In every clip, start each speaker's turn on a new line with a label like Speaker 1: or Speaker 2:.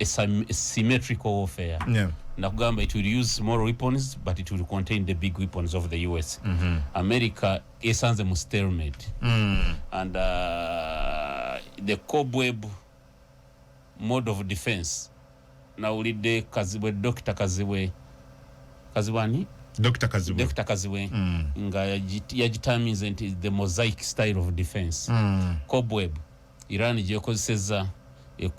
Speaker 1: a, a symmetrical warfare yeah. nakugamba
Speaker 2: it will use
Speaker 1: small weapons but it will contain the big weapons of the us mm -hmm. america esanze mu stalemate mm. and uh, the cobweb mode of defense nawulidde kazibwe dr kazibwe kazibwe ani Dr. Kazibwe. Dr. Kazibwe. Mm. Nga yajitamize nti the mosaic style of defense. Mm. Cobweb. Iran gyekozesezza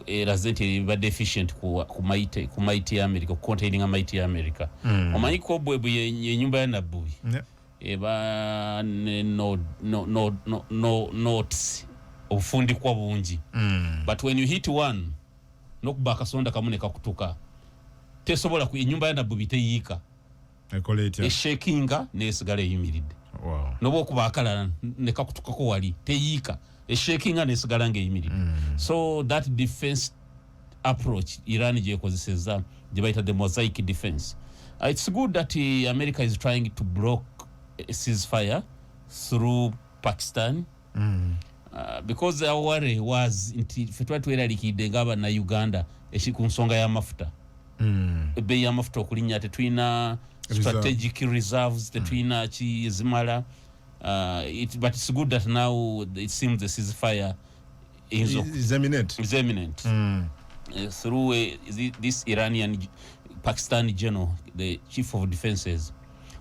Speaker 1: eraze nti ebadde efficient ku maiti ya america kucontaininga maiti ya america hmm. omanyi kobwebu yenyumba ya nabbubi eba notes obufundikwa bungi hmm. but when you hit one nokuba akasonda kamu nekakutuka tesobola enyumba ya nabbubi teyiika ekola etya eshakinga nesigala eyimiridde wow. noba okuba akalala nekakutukako wali teyiika eshakinga nesigala nga eyimiridde mm. so that defense approach iran gyekozeseza gyebayita the mosaic defense uh, it's good that uh, america is trying to block a ceasefire through pakistan mm. uh, because our worry was nti fe twali tweralikidde nga abana uganda eki ku nsonga y'amafuta mm. ebbeeyi y'amafuta okulinnya tetulina strategic reserves tetulina mm. ki ezimala uh, it, but it's good that now it seems the ceasefire is, is eminent, is eminent. Mm. Uh, through uh, this iranian pakistani general the chief of defenses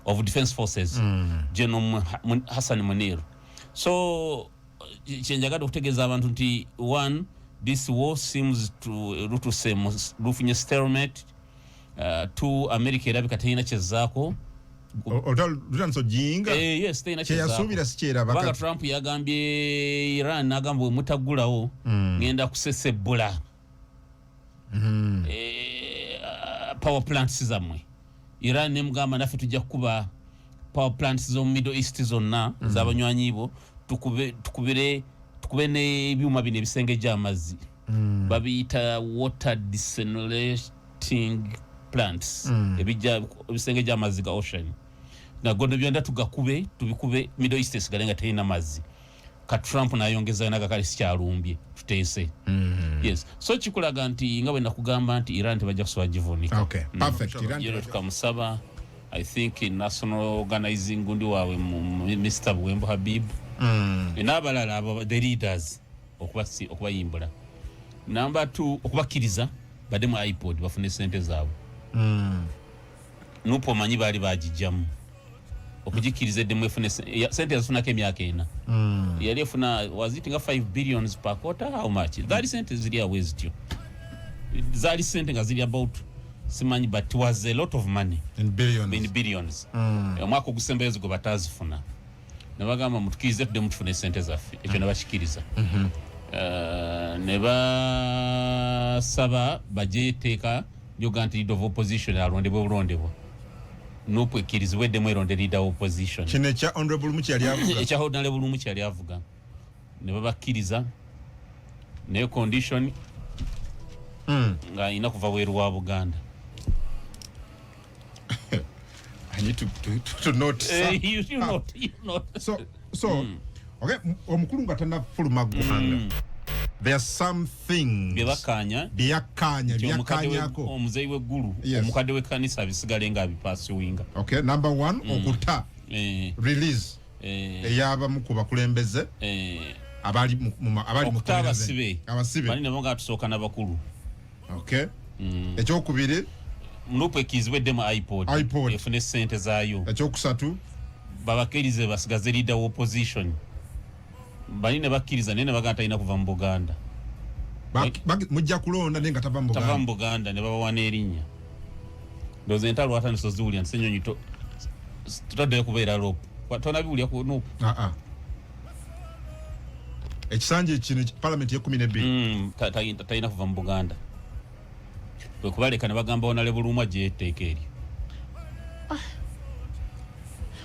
Speaker 1: of defense forces mm. general hassan munir so kyenjagala okutegeeza abantu nti one this war seems to lutuse lufunye stelmate uh, two america erabika terina kyezaako kyeyasuubira eh, sikyerabanga trump yagambye iran nagamba wemutagulawo mm. ngenda kusesebbula mm. e, power plants zamwe iran nemugamba naffe tujja kukuba power plants zomu middle east zonna mm. zabanywanyi bo tukube, tukubire tukube nebyuma bino ebisengejja amazzi mm. babiyita water desenolating plants mm. ebijja ebisengejja amazzi ga ocean nagondo byonna tugakube tubikube middle east esigale nga terina mazzi ka trump nayongeza naga kale sikyalumbye tuteese mm -hmm. yes so kikulaga nti nga bwe nakugamba nti iran tebajja kusobola givunika okay. mm. perfect iran
Speaker 2: yero tukamusaba
Speaker 1: i think in national organizing gundi wawe mr buwembo habib mm. n'abalala abo the leaders okubayimbula namba t okubakkiriza badde mu ipod bafune sente zaabwe mm. nupu omanyi baali bagijjamu okugikkiriza eddemu efune sente yazifunako emyaka ena hmm. yali efuna waziti nga 5 billions per quarter how much zaali sente ziri awo ezityo zaali sente nga ziri about simanyi but was a lot of money in billions, in
Speaker 2: billions. Mm. omwaka
Speaker 1: ogusembayo zigo batazifuna nabagamba mutukirize tudde mutufuna esente zaffe ekyo mm. nabakikiriza mhm. eh, ne basaba baje eteeka lyoga nti leader of opposition alondebwe bulondebwa nupu ekkirizibwa eddemu eronde leader of opposition kino ekya honorable muki
Speaker 2: yali avuga ekya honorable muki yali
Speaker 1: avuga ne babakkiriza naye condition mm. nga alina kuva bweru wa buganda
Speaker 2: I need to, to, to, to note. Uh, you, you ah. note, you note.
Speaker 1: So, so mm.
Speaker 2: okay, omukulu nga tanafuluma ggwanga mm. there's some things byebakanya byakanya byakanyako omuzeyi wegulu
Speaker 1: yes. omukade wekanisa bisigale nga bipasi winga okay number 1
Speaker 2: mm. okuta eh. release eh. eyaba mukuba kulembeze eh. abali mu abali mu
Speaker 1: abasibe bali nabo nga tusoka nabakulu okay
Speaker 2: mm. ekyokubiri lupu
Speaker 1: ekizibwe demu ipod ipod efune sente zayo ekyokusatu
Speaker 2: babakirize
Speaker 1: basigaze leader wa opposition bali ne bakiriza nene bagata talina kuva mu buganda
Speaker 2: mujja kulonda naye nga tava mu buganda ne babawa
Speaker 1: n'erinnya ndoza entalo ata nisoziwulira nti senyonyi tutaddeyo kubeera lopu tonabiwulira ku nupu ah, ah.
Speaker 2: ekisanja ekino palamenti yekumi nebbiri mm, talina kuva mu buganda
Speaker 1: kwekubaleka nebagamba onale bulumwa gyeteeka eryo ah.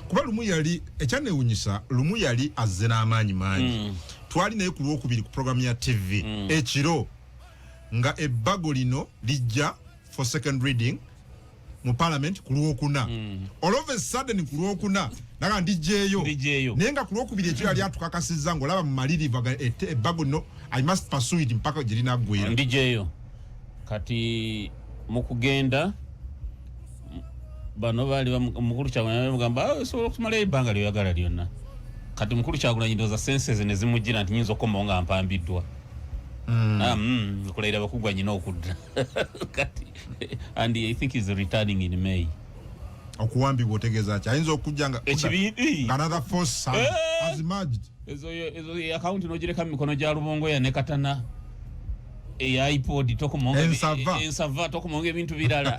Speaker 2: kuba lumu yali ekyanewunyisa lumu yali azze n'amaanyi mangi mm. twali naye ku lwokubiri ku programu ya tv mm. ekiro nga ebbago lino lijja for second reading mu parliament ku lwokuna mm. all of a sudden ku lwokuna naga ndijeyo naye nga ku lwokubiri ekyo yali atukakasizza ng'olaba mu malirivu ebbago no i must pursue it mpaka gye linaggwera ndijeyo
Speaker 1: kati mu kugenda bano baali mukulu kyagulanyi bamugamba ah, osobola okumalayo ebbanga lyoyagala lyonna kati mukulu kyagulanyi ndooza senses ne zimujjira nti nyinza okukomawo nga mpambiddwa mm. ah, mm, okulayira bakugwa nyina okudda and i think is returning in may okuwambibwa
Speaker 2: otegeeza ki ayinza okujja nga ekibibi another force son eh! has emerged ezo ezo
Speaker 1: account no jireka mikono ja lubongo ya nekatana e iPod toko monge ensava ensava toko monge bintu birala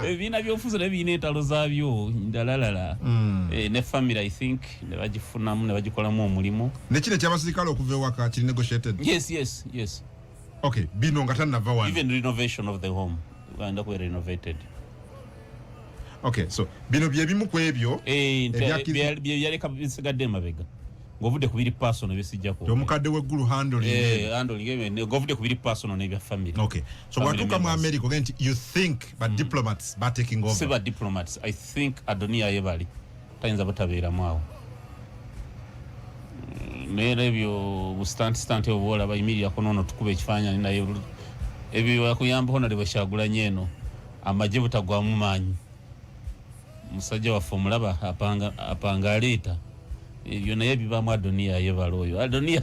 Speaker 1: ebina eh, byo fuzo ne bine talo za byo ndalalala mm. e, ne family i think ne bajifuna mu ne bajikola mu omulimu ne kile kya basirikalo
Speaker 2: okuvewa ka kili negotiated yes yes yes
Speaker 1: okay
Speaker 2: bino nga tanava wano even renovation of the
Speaker 1: home wanda ku renovated
Speaker 2: okay so bino bye bimu ku ebyo eh bye
Speaker 1: yale ka bisiga de mabega ngovude ku biri personal bye sijja ko omukadde we gulu
Speaker 2: handle eh handle ngebe
Speaker 1: ne ngovude ku biri personal ne bya family okay so watu
Speaker 2: kama america genti you think but mm. diplomats ba taking over siba diplomats i
Speaker 1: think adonia yebali tayinza butabeeramu awo mm, naera ebyo busitantisitante obwo olaba yimirirako noono tukuba ekifaananyi naye ebyo yakuyambako nali bwekyagulanyo eno amagye butagwamu maanyi musajja waffe omulaba apanga aleeta ebyo naye bibaamu adoniya yebala oyo adoniya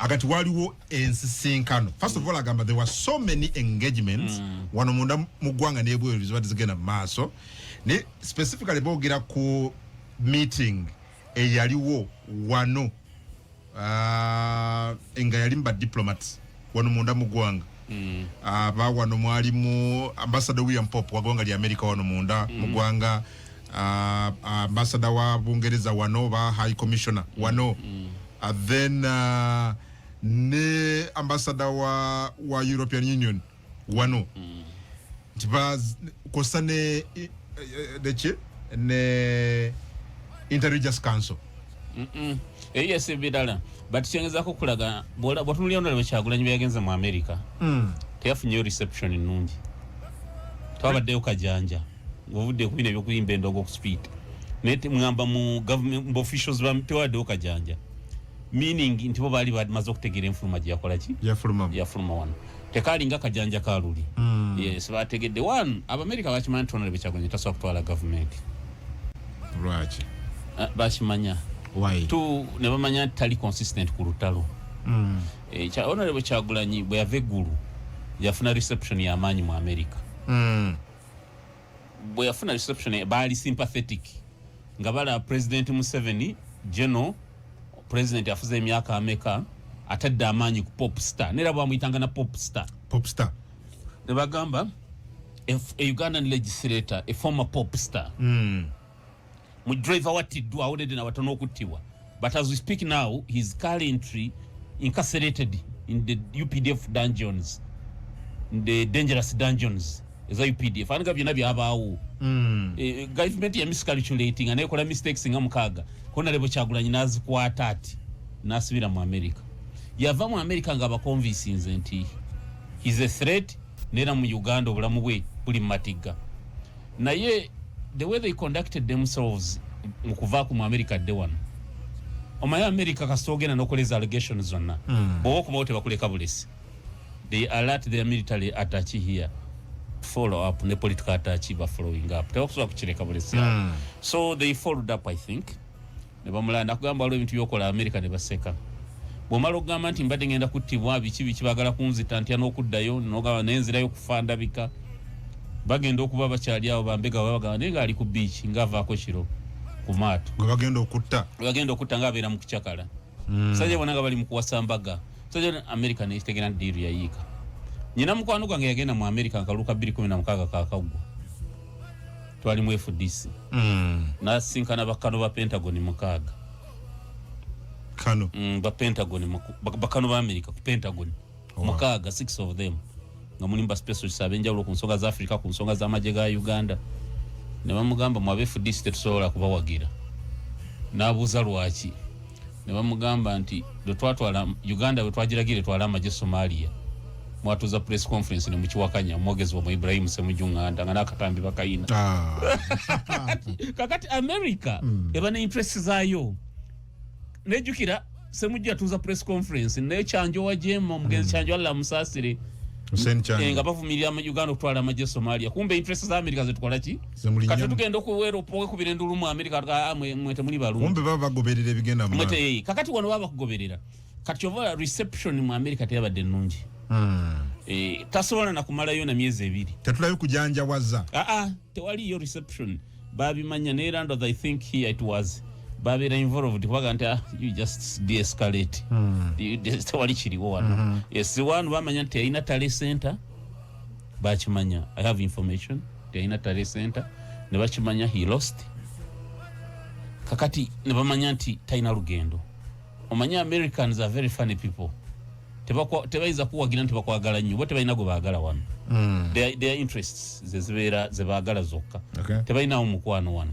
Speaker 2: agati waliwo ensisinkano first of all agamba there were so many engagements mm. wano munda mu ggwanga n'ebweru zibadde zigenda mu maaso ne specifically boogera ku meeting eyaliwo wano uh, nga yali mu badiplomats wano munda mu ggwanga mm. aba ah, wano mwalimu ambasada william pop wa ggwanga lya amerika wano munda mm. mu ggwanga ah, ah, ambasada wa bungereza wano oba high commissioner mm. wano mm. uh, then uh, ne ambasada wa, wa european union wano mm. nti kosa ne eh, eh, ne interreligious council
Speaker 1: eyo yesi ebirala but kyengezako okulaga bwatunulira ndala bwekyagulanyi bweyagenze mu america mm. teyafunyeyo reception ennungi twabaddeyo kajanja ngaovudde kubina ebyokuyimba endogo okuspeed naye temugamba mu government officials tewawaddewo kajanja meaning nti bo baali bamaze okutegeera enfuluma gyeyakolaki yafuluma wano tekaali nga kajanja ka luli mm. yes bategedde one abamerika bakimanyi nti onalebe kyagwanya tasobola kutwala gavumenti
Speaker 2: lwaki uh,
Speaker 1: bakimanya tu
Speaker 2: ne bamanya
Speaker 1: nti tali consistent ku lutalo mm. e, eh, onalebe kyagulanyi bwe yava eggulu yafuna reception yamaanyi mu amerika mm. bwe yafuna reception baali sympathetic nga bala president Museveni general president afuze emyaka ameka atadde amaanyi ku pop star nera bwamuyitanga na pop star pop star ne bagamba a Ugandan legislator a former pop star mm. mu driver wattiddwa awonedde nabata n'okuttibwa but as we speak now his currently incarcerated in the updf dungeons in the dangerous dungeons eza updf aniga byonna byabaawo mm. e, government ya miscalculating anekola mistakes nga mukaaga kona lebo kyagulanyi nazikwata ati nasibira mu america yava mu america nga abakonvisinze nti his a threat nera mu uganda obulamu bwe buli mu matigga naye the way they conducted themselves mukuva ku mu america de wano omaye america kasita ogenda nokoleza allegation zonna mm. bwoba okubawo tebakuleka bulesi they alert their military attach here follow up ne political attach ba following up tebakusobola kukireka bulesi mm. so they followed up i think ne bamulaya nakugamba waliwo ebintu byokola amerika ne baseka bwomala okugamba nti mbadde ngenda kuttibwa biki biki bagala kunzita ntya n'okuddayo nogamba naye nzirayo kufa ndabika bagenda okuba bakyali awo bambega babagamba naye ngaali ku biiki ngaavaako kiro ku maato bagenda okutta
Speaker 2: bagenda okutta
Speaker 1: nga abeera mu kucakala hmm. musajja bona nga bali mu kuwasa mbaga musajja amerika nekitegera nti diiru yayiika nyina mukwano gwange yagenda mu amerika nkaluka 216 kakaggwa twali mu fdc mm. nasinkana bakano ba pentagon mukaaga
Speaker 2: kano mm, ba
Speaker 1: pentagon bakano ba america ku pentagon oh. mukaaga six of them nga mulimu baspecialist abenjawulo ku nsonga za africa ku nsonga z'amagye ga uganda ne bamugamba mu abefdc tetusobola kubawagira n'abuuza lwaki ne bamugamba nti lwetwatwala uganda bwetwagiragira etwala amagye somalia mwatuza press conference ne mukiwakanya omwogezi wamwe ibrahimu semujunganda nga nakatambi bakayina ah. kakati america mm. eba ne interest zayo nejukira semujju yatuza press conference naye kyanjo wajema omugenzi mm. kyanjo alla musasire eh,
Speaker 2: nga bavumirira uganda
Speaker 1: okutwala amagye somalia kumbe interest za america zetukolaki kati tugenda okuwekubira endulu mu amerika ah, mwete muli balumbe baba bagoberera
Speaker 2: ebigenda mwete yeye kakati wano baba
Speaker 1: kugoberera kati ova reception mu amerika teyabadde nungi hmm. eh, tasobola nakumalayo na myezi ebiri tetulayo kujanjawaza
Speaker 2: aa ah, ah, tewali yo
Speaker 1: reception babimanya ne rando i think here it was babera involved kubaga nti ah, you just deescalate hmm. tewali kiriwo wano hmm. esiwanu bamanya nti yayina tale center bakimanya i have information teyalina tale center ne bakimanya he lost kakati ne bamanya nti talina lugendo omanye americans are very funny people tebayinza kuwagira nti bakwagala nnyo bo tebalina gwe baagala wano hmm. their interests zezibeera zebaagala zokka tebalinawo mukwano wano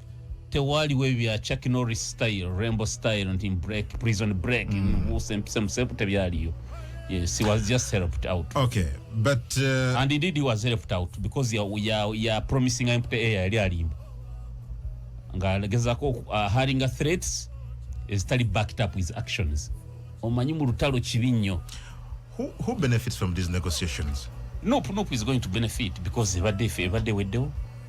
Speaker 1: tewaaliwo ebya chuck norris style rainbow style nti break prison break mm. muse mpise musepu tebyaliyo yes he was just helped out okay but
Speaker 2: uh, and indeed he was
Speaker 1: helped out because ya ya, ya promising empty air yali alimba nga alegezako uh, haringa threats is tali backed up his actions omanyi mu lutalo kibi nnyo who, who
Speaker 2: benefits from these negotiations nope nope is
Speaker 1: going to benefit because ebadde ebadde weddewo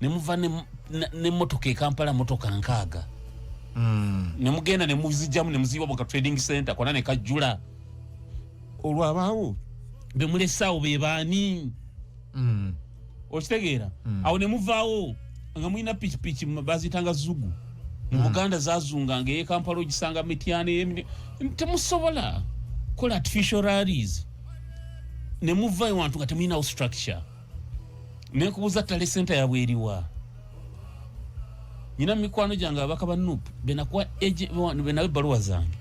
Speaker 1: ne muva ne ne motoka e Kampala motoka nkaga mm. ne mugenda ne muzijamu ne muziwa boka trading center kona ne kajula olwa bawo be mule sawo be bani mm. okitegeera mm. awo ne muvawo nga mulina pikipiki bazitanga zugu mu hmm. buganda zazunga nga eyekampala ogisanga mityana temusobola kola artificial rallies nemuvayo wantu nga temulinawo structure nekubuza tale senta yabwe eriwa nyina mikwano jange abaka ba nup benakuwa eje benawe baluwa zange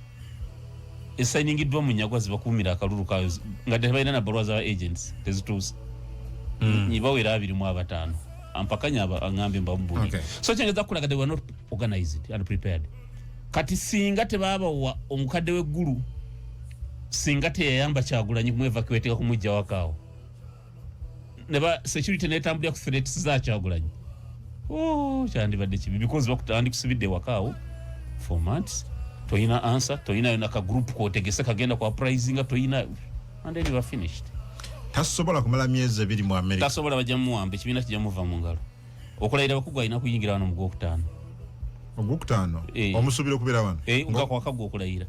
Speaker 1: esainingidwa munyagwa zibakumira akalulu kayo nga tebaina na baluwa za agents tezitusa mm. nibawera abiri mu abatano ampakanya aba angambe mbambu okay. so change za kulaga they were not organized and prepared kati singa tebaba wa omukade we guru singa teyamba chagulanyi kumweva kiweteka kumujja wakao neba security netambulira ku threats za kyagulanyi oh kyandibadde kibi because bakutandi kusibidde wakaawo for months toyina answer toyina yona ka group kotegese kagenda kwa prizinga toyina and then you are finished tasobola
Speaker 2: kumala myezi ebiri mu america tasobola bajja muwamba ekibiina
Speaker 1: kijja muva mu ngalo okulayira bakugwa alina kuyingira wano mu gwokutaano ogwokutaano
Speaker 2: eh. omusuubira okubeera wano eh, nga kwakagwa okulayira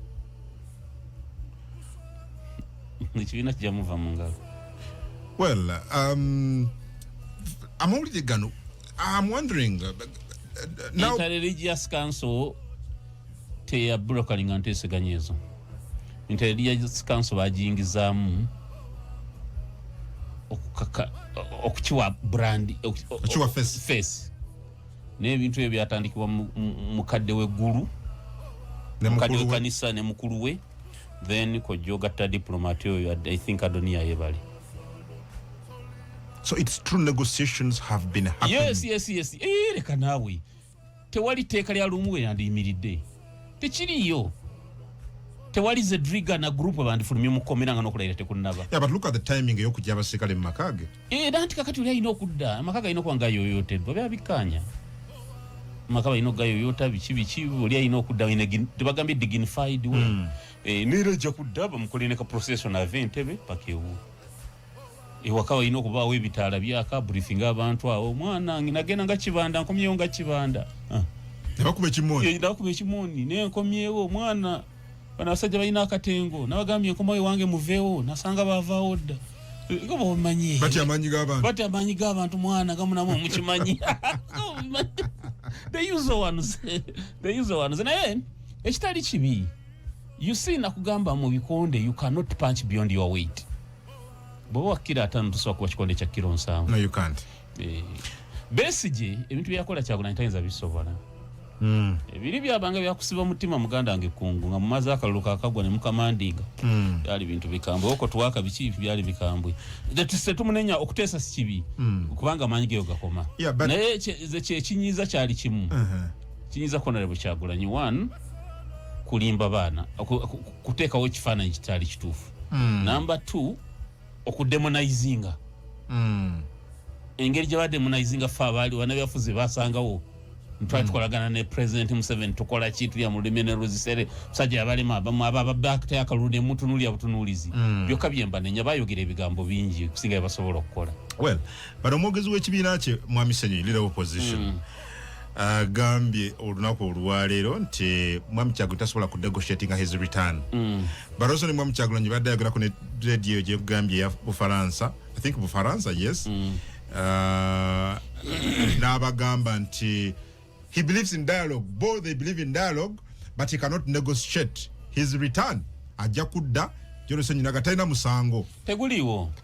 Speaker 1: ekibiina kijja muva mu ngalo well
Speaker 2: um, amawulire gano am wondering uh, now... interreligious
Speaker 1: council teyabrokalinga nteeseganya ezo interreligious council bagiyingizaamu okukaka okukiwa brand okukiwa face,
Speaker 2: face.
Speaker 1: naye ebintu ebyo byatandikibwa mukadde we gulu
Speaker 2: mukadde we kanisa
Speaker 1: ne mukulu
Speaker 2: we
Speaker 1: then kojja ogatta diplomat oyo i think adonia yebali
Speaker 2: so it's true negotiations have been happening yes yes yes eh
Speaker 1: leka nawe tewali teeka lya lumu we yandiyimiridde tekiriyo tewali zedriga na group bandifulumye mukomera nga nokulayira tekunnaba yeah, but look at the timing
Speaker 2: eyokujja abaserikale mu makaage era nti kakati oli alina
Speaker 1: okudda amaka galina okuba nga yoyoteddwa bya bikkaanya amaka balina okugayoyota biki biki oli alina okudda tebagambye dignified we hmm. eh, neera ejja kudda bamukole ne ka procession ava entebe paka ewu ewaka balina okubaawo ebitaala byaka briefinga abantu awo omwana nagenda nga kibanda nkomyewo nga kibanda ah. nabakuba
Speaker 2: ekimoni eh, nabakuba ekimoni
Speaker 1: nenkomyewo omwana bano abasajja balina akatengo nabagambye nkomawo ewange muveewo nasanga baavaawo dda nga bomanyi bati amaanyi g'abantu bati
Speaker 2: amaanyi g'abantu mwana
Speaker 1: gamunamu omukimanyi they use ones they use ones naye ekitali kibi you see nakugamba mu bikonde you cannot punch beyond your weight bwoba wakkira atano tusobola kuba kikonde kya kiro nsanvu no you can't eh, besigye ebintu byeyakola kyagulanyi tayinza bisobola Mm. ebiri byabanga byakusiba mutima muganda wange kungu nga mumaze akalulu kakagwa nemukamandinga mm. byali bintu bikambwe oko twaka biki byali bikambwe tetumunenya okuteesa sikibi mm. kubanga amaanyi geyo gakoma yeah, but... naye kyekinyiza kyali kimu uh -huh. kinyiza konale bwekyagulanyi one kulimba baana kuteekawo ekifaananyi kitaali kituufu mm. number two okudemonaizinga mm. engeri gyebademonaizinga fe abaali wanabyafuzi basangawo ntwali mm. tukolagana ne president museven tukola ki tulya mu lulimi ne luzisere musajja yabalema ababakta akalulu ne mutunulya butunuulizi mm. byokka byemba nenya bayogera ebigambo bingi okusinga byebasobola okukola well bano
Speaker 2: omwogezi w'ekibiina kye mwami senyi leader opposition mm. agambye uh, olunaku olwaleero nti mwami kyagulanyi tasobola ku negotiatinga his return mm. baroso ne mwami kyagulanyi badde ayogerako ne radio gyegambye ya bufaransa i think bufaransa yes mm. uh, n'abagamba nti he believes in dialogue both they believe in dialogue but he cannot negotiate his return ajja kudda jorosenyi naga talina musango teguliiwo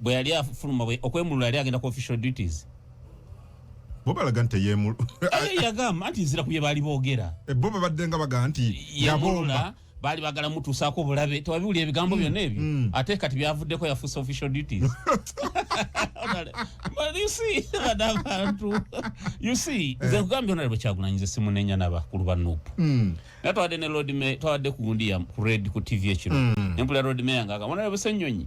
Speaker 1: bwe yali afuluma okwemulula yali agenda ku official duties
Speaker 2: bo balaga nti teyemulu yagamba anti
Speaker 1: nzira ku bye baali boogera eh, bo babadde nga baga
Speaker 2: nti yabomba
Speaker 1: baali bagala mutuusaako bulabe tewabiwulira ebigambo mm, byonna ebyo mm. ate kati byavuddeko yafuuse official duties abantu us eh. nze kugambye onale bwekyagulanyiza simunenya nabakulu ba nup mm. naye twawadde ne lodme twawadde ku gundi ya red ku tv ekiro nempulira lodme yangagamba onale busenyonyi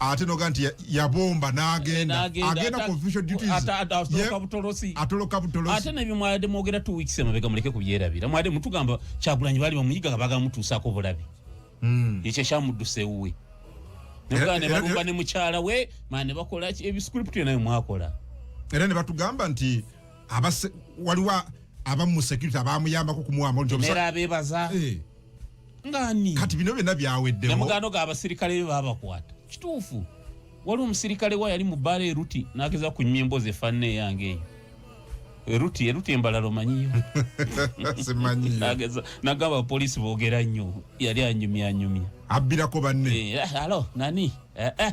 Speaker 2: ate noga nti yabomba nagenda agenda confusion duties atoloka butolosi atoloka butolosi ate ne bimwade mogera
Speaker 1: 2 weeks emabega muleke kubyerabira mwade mutugamba kyagulanyi bali bamuyiga baga mutusa ko bulabi mm ekyo kyamuduse uwe noga ne bakuba ne mukyala we mane bakola ebi script yo nayo mwakola era ne
Speaker 2: batugamba nti abase waliwa abamu security abamuyamba ko kumuwa mo njomusa era abebaza
Speaker 1: eh ngani kati bino byonna
Speaker 2: byaweddewo namugano ga abasirikale
Speaker 1: be babakwata kituufu waliwo omusirikale wa yali mu bbaala eruti n'ageza kunyuma emboozi efaanana eyange eyo eruti eruti embalala omanyiyo
Speaker 2: nagamba
Speaker 1: abapoliisi boogera nnyo yali anyumyanyumya abbirako banne
Speaker 2: eh, eh, alo nani
Speaker 1: eh,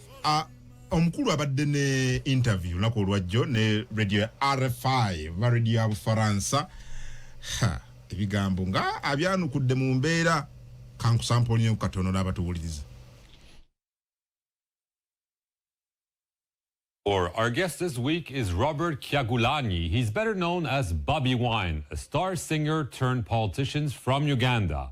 Speaker 2: a omukulu abadde ne interview lunaku olwajjo ne radio ya rfi oba radio ya bufaransa ebigambo nga abyanukudde mu mbeera kankusampolinyo katono n'abatuwuliriza
Speaker 3: Or our guest this week is Robert Kyagulanyi. He's better known as Bobby Wine, a star singer turned politician from Uganda.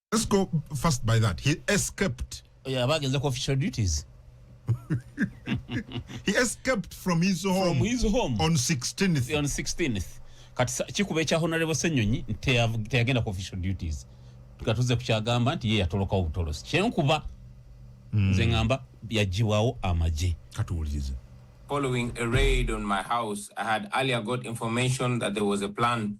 Speaker 4: Let's
Speaker 2: go first by that. He escaped. Yeah, back in the
Speaker 1: official duties.
Speaker 2: he escaped from his home. From his home. On
Speaker 1: 16th.
Speaker 2: On
Speaker 1: 16th. Kati kikube cha honorable Senyonyi teyagenda ku official duties. Tukatuze kuchagamba nti yeye yatoloka obutolosi. Kyenkuba mm. nze ngamba yajiwawo amaje. Katuwulize.
Speaker 2: Following
Speaker 4: a raid on my house, I had earlier got information that there was a plan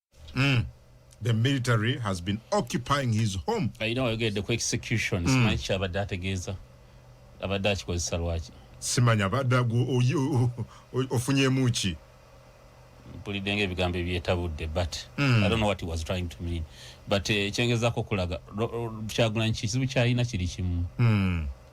Speaker 5: mm.
Speaker 2: the military has been occupying his home ayina wayogedde ku
Speaker 1: execution mm. simanyi kyabadde ategeeza abadde akikozesa lwaki simanya abadde
Speaker 2: ofunyemu ki
Speaker 1: mpulidde nga ebigambo ebyetabudde but mm. i don't know what he was trying to mean but eh, ekyengezako okulaga kyagulanyi kizibu kyalina kiri kimu mm.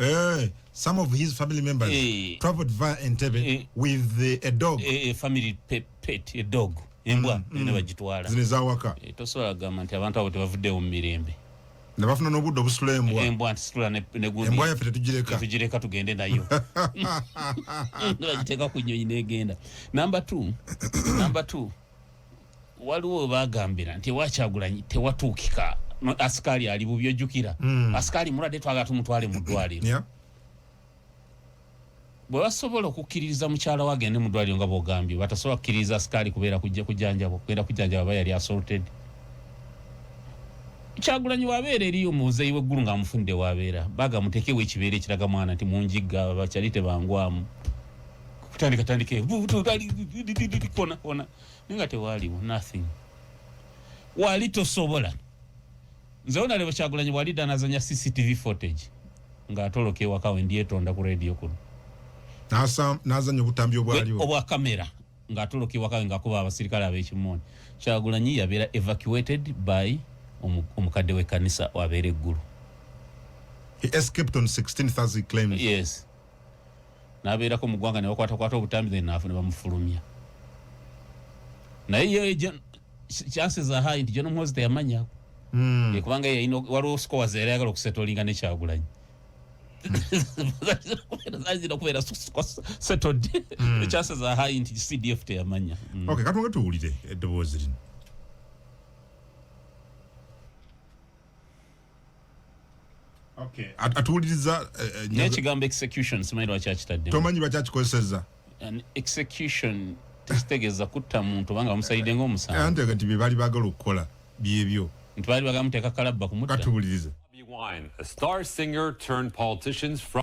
Speaker 2: Eh, some of his family members hey. Eh. traveled via Entebbe hey. Eh. with the, a dog. A, a family pet,
Speaker 1: pet, a dog. Embwa, mm, mm. bagitwala. Zine za waka. E,
Speaker 2: tosobola gamba nti
Speaker 1: abantu abo tebavuddewo mu mirembe. Ne bafuna n'obudde
Speaker 2: obusula embwa. Embwa ntisula ne ne
Speaker 1: gundi. Embwa yaffe tetugireka.
Speaker 2: Tetugireka tugende nayo.
Speaker 1: Ndio ajiteka ku nnyonyi n'egenda. Number 2. Number 2. waliwo webagambira nti ewa kyagulanyi tewatuukika asikaali ali bubi ojjukira mm. asikaali mulwadde twagala tumutwale mu ddwaliro yeah. bwe basobola okukkiririza mukyala we agende mu ddwaliro nga bwogambye batasobola kukkiririza asikaali kubeera kujja kujanjaba okugenda kujanjaba aba yali asorted kyagulanyi wabeera eri omuzeyi weggulu nga amufunidde wabeera baga mutekewo ekibeera ekiraga mwana nti munjigga bakyali tebangwamu kutandika tandika kona nga tewaaliwo nothing wali tosobola nze wona lebo kyagulanyi wali danazanya cctv footage nga atoloka ewaka we ndyetonda ku radio kuno
Speaker 2: nazanya obutambi obwaliwo obwa kamera
Speaker 1: nga atoloka ewaka we ngakuba abasirikale abekimooni kyagulanyi yabeera evacuated by omukadde wekkanisa wabeera eggulu
Speaker 2: he escaped on 16 thursday claims yes
Speaker 1: nabeerako mu ggwanga ne bakwatakwata obutambi then naafu ne bamufulumya naye ye chances are high nti John Muhoozi teyamanya mm. kubanga yalina waliwo scores yali ayagala okusetolinga ne Kyagulanyi zazira kubeera settled mm. chances are high nti CDF teyamanya mm. okay katonga tuwulire
Speaker 2: eddoboozi lino okay atuwuliriza eh, eh, naye ekigambo
Speaker 1: execution simanyi lwaki akitadde tomanyi lwaki akikozesezza execution tekitegeeza kutta muntu obanga bamusalidde ngaomusango eh, antega nti byebali bagala
Speaker 2: okukola byebyo nti baali bagala muteeka
Speaker 1: kalabba kumutta katuwulirize
Speaker 2: Wine, a
Speaker 3: star singer turned politicians from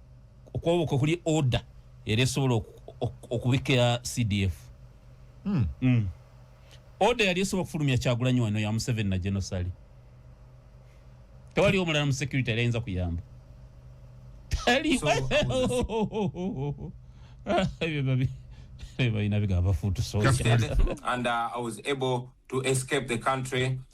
Speaker 1: okwoboka okuli order era esobola okubikira cdf hmm. Hmm. order yali esobola okufulumya kyagulanyi wano ya museveni na genosali tewali omulala mu security yali ayinza kuyamba
Speaker 4: balina bigambo fuutu soja and uh, i was able to escape the country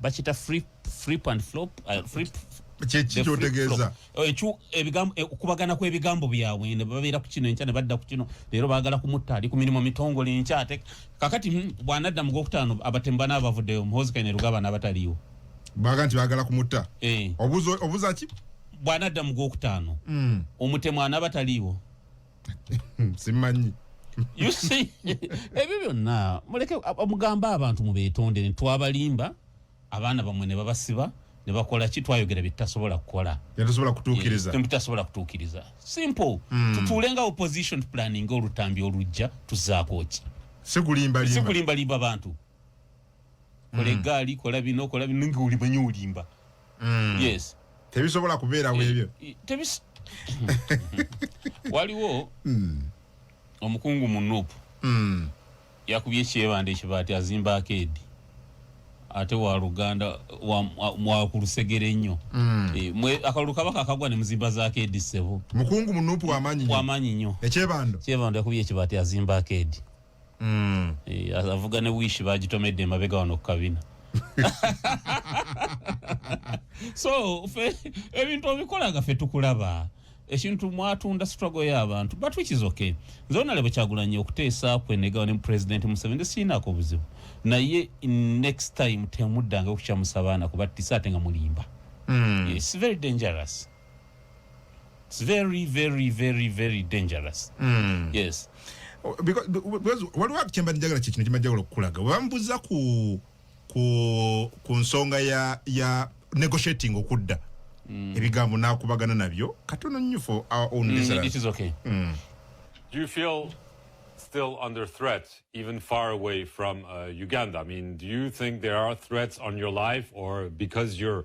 Speaker 1: bakita flip flip and flop uh, flip kyekikyotegeeza
Speaker 2: oh, eh,
Speaker 1: okubagana kwebigambo byabwe ne babeera ku kino enkya ne badda ku kino leero bagala kumutta ali ku mirimu mitongole enkya ate kakati hmm, bwanadda mu gwokutaano abatemu bana abavuddeyo muhozi kaine rugaba n'abataliyo baga nti
Speaker 2: bagala kumutta eh. obuza ki bwanadda mu
Speaker 1: gwokutaano hmm. omutemu anaabataliiwo
Speaker 2: simanyi you
Speaker 1: see ebyo byonna muleke mugambe abantu mubeetondere twabalimba abaana bamwe ne babasiba ne bakola ki twayogera byetasobola kukola byetasobola kutuukiriza eh, byetasobola kutuukiriza simple mm. tutuule nga opposition planning olutambi olujja tuzaako ki sikulimbalimba sikulimbalimba bantu kola mm. egaali kola bino kola bino nga olimanya olimba mm. yes tebisobola
Speaker 2: kubeerawo eh, ebyo eh, tebis
Speaker 1: waliwo mm. omukungu mu nup mm. yakubye ekyebanda ekiba ati azimba akeedi ate wa luganda wakulusegere wa, wa nnyo mm. e, mwe akalulu kabaka akagwa ne muzimba za akeedi ssebo mukungu mu nup
Speaker 2: wamanyi nyo
Speaker 1: ekyebando kyebando yakubye ekiba ati azimba akeedi mm. e, avuga ne wish bagitomedde emabega wano kukabina so fe ebintu obikolaga fe tukulaba ekintu mwatunda struggle y'abantu but which is okay nze onale bwekyagulanye okuteesa kwenegawo ne president museveni siinaako obuzibu naye next time temuddanga okukyamusa baana kuba tisa ate nga mulimba mm. yes, very dangerous It's very very very very dangerous. Mm. Yes.
Speaker 2: Oh, because because what work chemba njagala kye kino kimajagala okulaga. Bambuza ku ku ku nsonga ya ya negotiating okudda. Mm. Ebigambo nakubagana nabyo. Katono nnyo for our own mm, listeners. It is okay. Mm.
Speaker 3: Do you feel still under threat, even far away from uh, Uganda? I mean, do you think there are threats on your life, or because you're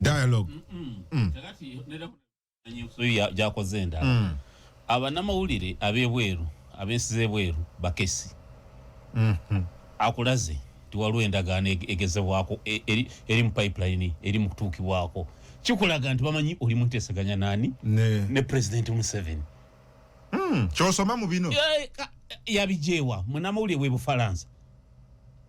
Speaker 2: dialogue
Speaker 1: mm. gyakoze endala mm. abanamawulire abebweru abensi zebweru bakesi mm-hmm. akulaze nti waliwo endagaano egezebwako e, eri mu pipeline eri mu kutuukibwako kikulaga nti bamanyi oli munteseganya nani ne president museven mm.
Speaker 2: kyosoma mu bino yabijeewa
Speaker 1: munamawulire webufalansa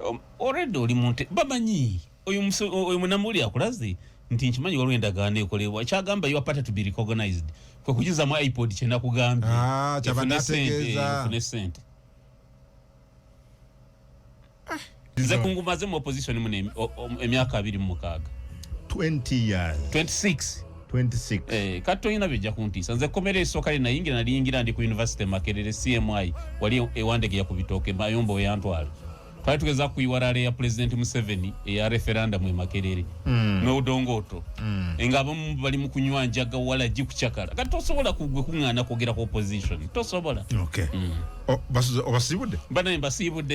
Speaker 1: Um, already oli munte bamanyi oyo oyo munamuli akulaze nti nkimanyi waliwo endagaano ekolebwa kyagamba your party to be recognized kwe kujuza mu ipod kye nakugambye ah,
Speaker 2: efune sente
Speaker 1: ah. nze kungumaze mu opposition mu emyaka abiri mu mukaaga 20
Speaker 2: years 26 Eh, kati tolina bijja
Speaker 1: kuntiisa nze ekkomera esooka lye nayingira naliyingira ndi ku univesity makerere cmi wali ewandegeya ku bitooke mayomba weyantwala twali tugeza kuyiwalala eya pulezidenti museveni eya referendamu emakerere hmm. n'odongooto hmm. nga abamu bali mu kunywa njaga wala gi kucakala kati tosobola kugwe kuŋŋaana kwogera ku opposition
Speaker 2: tosobola
Speaker 1: hmm. obasiibudde banaye mbasiibudde